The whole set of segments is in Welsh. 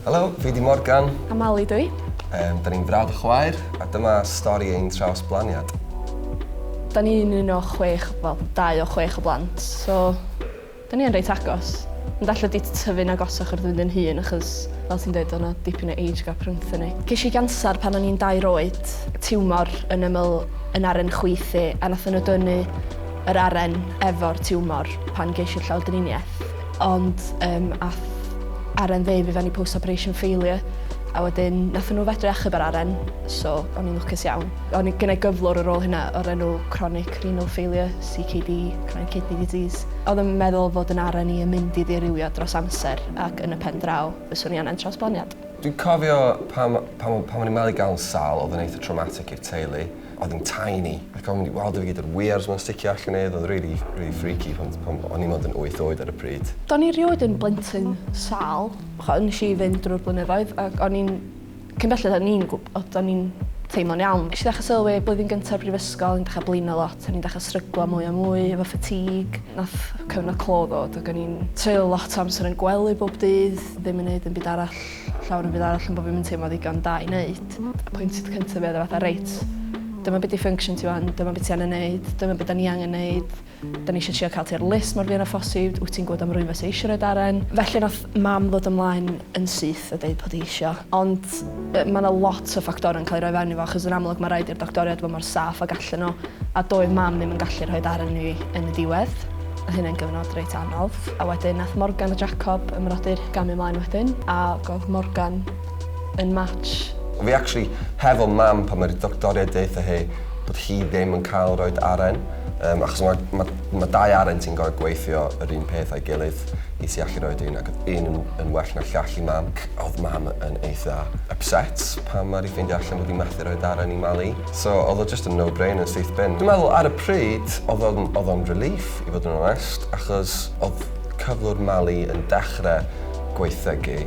Helo, fi 'di Morgan. A Mali dw i. Um, da ni'n frawd a chwaer, a dyma stori ein trawsblaniad. Da ni'n un o chwech, wel, dau o chwech o blant, so da ni'n reit agos. Ond allai di tyfu'n agosach wrth fynd yn hun, achos fel ti'n dweud, o'na dipyn o age gap rhwngthyn ni. Cesh i ganser pan o'n i'n dair oed, tiwmor yn ymyl yn aren chwith i, a nath nhw dynnu yr aren efo'r tiwmor pan gesh i'r llawdriniaeth. Ond um, ath Aren ddeud fi fewn i post-operation failure a wedyn nath nhw fedru achub ar Aren, so o'n i'n lwcus iawn. O'n i gynnau gyflwr ar ôl hynna o'r enw chronic renal failure, CKD, chronic kidney disease. Oedd yn meddwl fod yn Aren i yn mynd i ddirywio dros amser ac yn y pen draw fyswn i angen trawsblaniad. Dwi'n cofio pan, pan, pan o'n i'n malu gael yn sal, oedd yn eitha traumatic i'r teulu. Oedd yn tiny, ac o'n i weld e fi gyd yr weirs ma'n sticio allan ef, oedd rili, rili freaky pan, pan o'n i'n mond yn wyth oed ar y pryd. Do'n i rioed yn blentyn sâl. Ch'o' nes i fynd drwy'r blynyddoedd ac o'n i'n cyn belled o'n i'n gw- o do'n i'n teimlo'n iawn. Nesh i ddechra sylwi blwyddyn gynta'r brifysgol o'n i'n dechra blino lot o'n i'n dechra sryglo mwy a mwy efo fatigue. Nath cyfnod clo ddod ac o'n i'n treulio lot o amser yn gwely bob dydd ddim yn neud dim byd arall. ll- llawer yn fyd arall am bo' fi'm yn teimlo ddigon da i neud. Apwyntiad cynta fi oedd e fatha reit dyma be' 'di function ti ŵan dyma be' ti angen neud dyma be' 'dan ni angen neud 'dan ni isio trio ca'l ti ar list mor fuan â phosib wyt ti'n gwbod am rywun fysa eisio roi daren? Felly nath mam ddod ymlaen yn syth a deud bod 'i isio ond yy ma' 'na lot o ffactorau'n ca'l 'i roi fewn i fo achos yn amlwg ma' raid i'r doctoriaid fo' mor saff ag allan n'w a doedd mam ddim yn gallu rhoi daren i fi yn y diwedd. Oedd hyn yn gyfnod reit anodd a wedyn nath Morgan a Jacob ymrody'r gamu mlaen wedyn a gof Morgan yn match. Fi actually hefo mam pan ma'r doctoriaid deutha hi bod hi ddim yn cael roid aren yym achos ma' ma' ma' dau aren sy'n gor'o' gweithio yr un peth a'i gilydd i ti allu roid un ac odd un yn yn well na'r llall i mam. Odd mam yn eitha upset pan ma' 'di ffeindio allan bod 'i methu roid aren i Mali. So oedd o jyst yn no brainer syth bin. Dwi'n meddwl ar y pryd oedd o'n oedd o'n relief i fod yn onest achos oedd cyflwr Mali yn dechre gwaethygu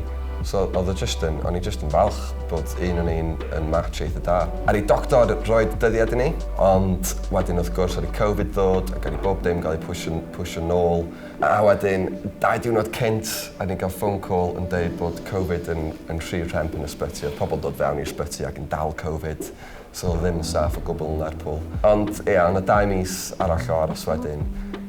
so oedd o jyst yn o'n i jyst yn falch bod un o ni'n yn match eitha da. Ar i doctor roed dyddiad i ni ond wedyn wrth gwrs ar i covid ddod ac ar i bob dim gael ei pwsio pwsio nôl. A wedyn, dau diwrnod cynt, o'n ni'n cael phone call yn deud bod Covid yn, yn rhy rhemp yn ysbyty. Oedd pobl yn dod fewn i'r ysbyty ac yn dal Covid, so oedd o ddim yn saff o gwbl yn Lerpwl. Ond, ia, o' 'na dau mis arall o aros wedyn,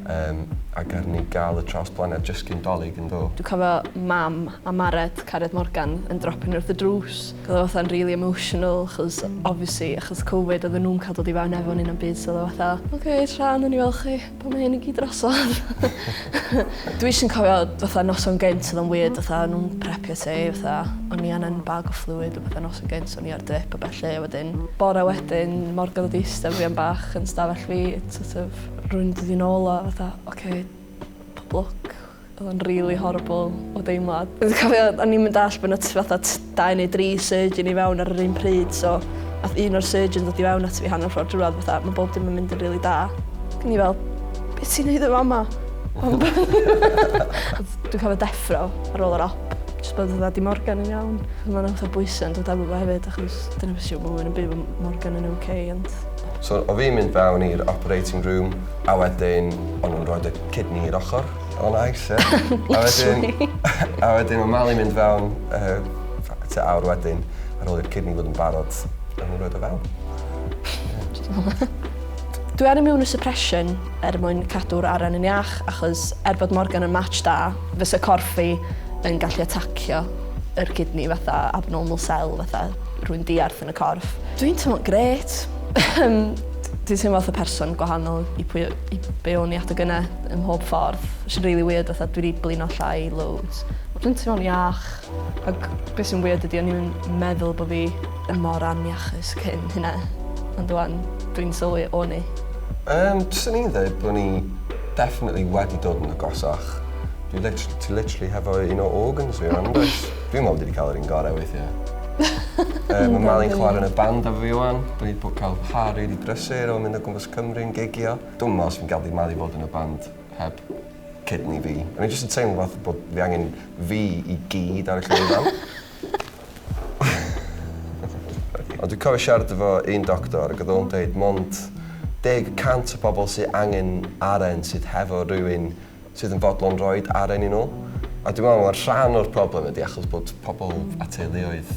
yym, a garu ni gael y trawsblaniad jyst cyn Dolig, yndo? Dwi'n cofio Mam a Mared, cariad Morgan, yn dropio ni wrth y drws. Ac oedd o fatha'n rili emotional, achos, obviously, achos Covid, oedden nhw'm cael dod i fewn efo ni na'm byd, so oedd o fatha, Ok, tara, nawn ni weld chi. Pam mae hyn i gyd drosodd? Dwi eisiau cofio fatha noson gynt oedd o'n weird fatha o'n nhw'n prepio ti fatha o'n i angen bag o fluid a fatha noson gynt o'n i ar drip a ballu a wedyn bore wedyn morgan oedd ista fi am bach yn stafell fi sort of rhywun yn dod i nôl o fatha ok pob lwc. Odd o'n rili horrible o deimlad. Dwi cofio o'n i'm yn dallt bo' 'na t- fatha t- dau neu dri surgeon i fewn ar yr un pryd so ath un o'r surgeons ddod i fewn ato fi hanner ffor drwodd a fatha ma' bob dim yn mynd yn rili da. Ac o'n i fel be' ti'n neud yn fama? Odd dwi cofio deffro ar ôl yr op jyst bod fatha 'di Morgan yn iawn? Achos ma' 'na fatha bwyse yn dod efo fo hefyd achos dyna be' sy isio bo' rywun yn byw efo m- Morgan yn oce ond So o' fi'n mynd fewn i'r operating room a wedyn o'n nw'n rhoid y Kidney i'r ochr. O nice ie. Literally. A wedyn mae Mali'n mynd fewn tua awr wedyn ar ôl i'r kidney fod yn barod. Mae'n nhw'n rhoid o fewn. Dwi ar immunosuppression er mwyn cadw'r aren yn iach achos er bod Morgan yn match da fysa corff fi yn gallu atacio yr kidney fatha abnormal cell fatha rhywun diarth yn y corff. Dwi'n teimlo'n grêt. Dwi'n teimlo fatha person gwahanol i pwy Be o'n i at y gynne ym mhob ffordd. Which is really weird fatha dwi 'di blino llai loads. Dwi'n teimlo'n iach ag be' sy'n weird ydi o'n i'm yn meddwl bo' fi yn mor aniachus cyn hynna ond ŵan dwi'n sylwi o'n i. Yym swn i'n ddeud bo' ni definitely wedi dod yn agosach. Dwi literally ti literally hefo un o organs fi rŵan dwyt? Dwi'n me'wl dwi 'di ca'l yr un gore weithie. Yy ma' Mali'n chware yn y band efo fi ŵan. 'Dan ni 'di bo' ca'l Harri 'di brysur o mynd o gwmpas Cymru'n gigio. Dwi'm yn meddwl 'swn i'n gallu malu fod yn y band heb kidney fi. O'n i jyst yn teimlo fatha bod fi angen fi i gyd ar y llwyfan. Ond dwi'n cofio siarad efo un doctor ac oedd o'n deud 'mond deg y cant o bobl sy angen aren sydd hefo rywun sydd yn fodlon rhoi aren i nhw. A dwi'n meddwl mae'r rhan o'r problem ydy achos bod pobl a teuluoedd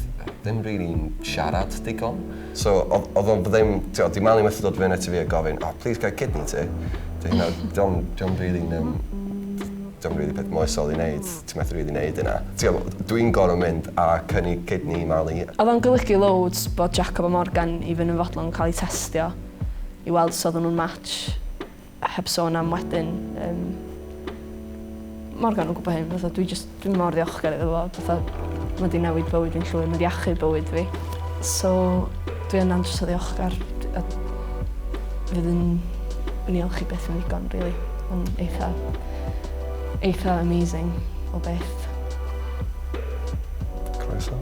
ddim rili'n siarad digon. So oedd oedd o'n ddim, tibod, di Mali methu dod fyny ati fi a gofyn, oh please ga i kidney ti? Dy hynna, dio'm dio'm rili'n yym dio'm rili peth moesol i neud, ti methu rili neud hynna. Tibod, dwi'n gorfod mynd a cynnig kidney i Mali. Oedd o'n golygu loads bod Jacob a Morgan even yn fodlon cael eu testio i weld os oedden nhw'n match. Heb sôn am wedyn yym Morgan yn gwybod hyn fatha dwi jyst dwi mor ddiolchgar iddo fo fatha ma' 'di newid bywyd fi'n llwyr ma' 'di achub bywyd fi so dwi yn andros o ddiolchgar d- a fydd yn yn iolch i byth yn ddigon rili ma'n eitha eitha amazing o beth. Croeso.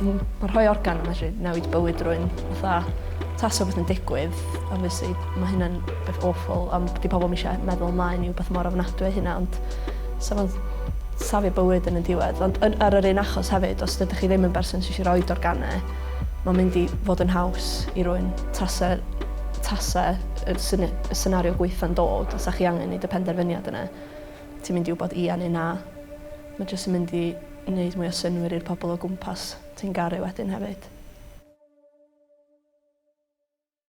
Hmm ma' rhoi organ yn medru newid bywyd rywun fatha Tasa rhywbeth yn digwydd obviously ma' hynna'n beth awful ond 'di pobol 'im isio meddwl ymlaen i wbath mor ofnadwy â hynna ond sa fo'n safio bywyd yn y diwedd ond yn ar yr un achos hefyd os dydych chi ddim yn berson sy isio roid organe ma'n mynd i fod yn haws i rywun tasa tasa y syni- y senario gwaetha'n dod a 'sa chi angen neud y penderfyniad yna ti'n mynd i wbod ia neu na. Ma' jyst yn mynd i neud mwy o synnwyr i'r pobol o gwmpas. Ti'n garu wedyn hefyd.